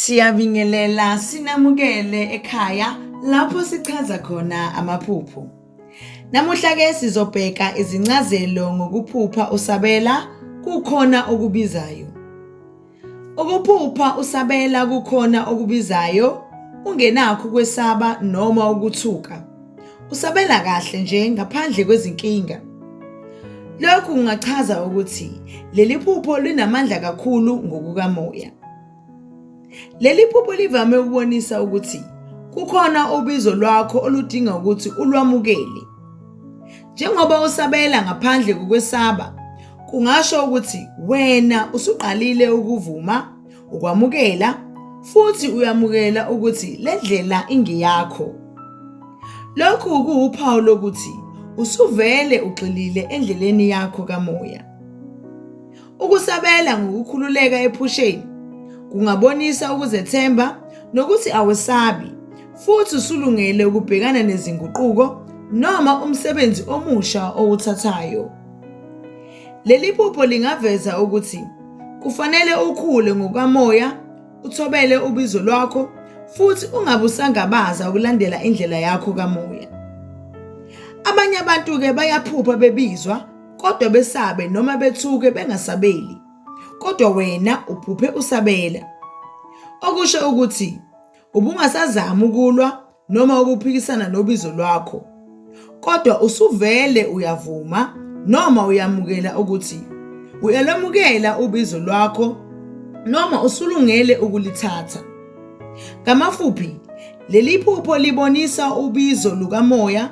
Siyabingelela sinamukele ekhaya lapho sichaza khona amaphupho. Namuhla ke sizobheka izincazelo ngokuphupha usabela kukhona okubizayo. Ukuphupha usabela kukhona okubizayo ungenakho ukwesaba noma ukuthuka. Usabela kahle nje ngaphandle kwezinkinga. Lokhu kungachaza ukuthi leli phupho linamandla kakhulu ngokukamoya. Leli phupho livame ukubonisa ukuthi kukhona ubizo lwakho oludinga ukuthi ulwamukele. Njengoba usabela ngaphandle kokwesaba, kungasho ukuthi wena usuqalile ukuvuma, ukwamukela, futhi uyamukela ukuthi le ndlela ingeyakho. Lokhu kuwuphawu lokuthi usuvele ugxilile endleleni yakho kamoya. Ukusabela ngokukhululeka ephusheni kungabonisa ukuzethemba nokuthi awesabi futhi usulungele ukubhekana nezinguquko noma umsebenzi omusha owuthathayo. Leli phupho lingaveza ukuthi kufanele ukhule ngokamoya, uthobele ubizo lwakho futhi ungabe usangabaza ukulandela indlela yakho kamoya. Abanye abantu-ke bayaphupha bebizwa kodwa besabe noma bethuke bengasabeli kodwa wena uphuphe usabela okusho ukuthi ubungasazami ukulwa noma ukuphikisana nobizo lwakho kodwa usuvele uyavuma noma uyamukela ukuthi uyalomukela ubizo lwakho noma usulungele ukulithatha ngamafuphi leli phupho libonisa ubizo lukamoya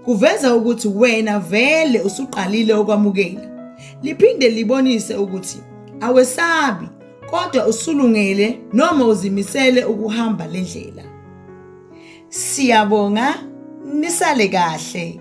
Kuveza ukuthi wena vele usuqalile ukwamukela. Liphinde libonise ukuthi awesabi kodwa usulungele noma uzimisele ukuhamba le ndlela. Siyabonga nisale kahle.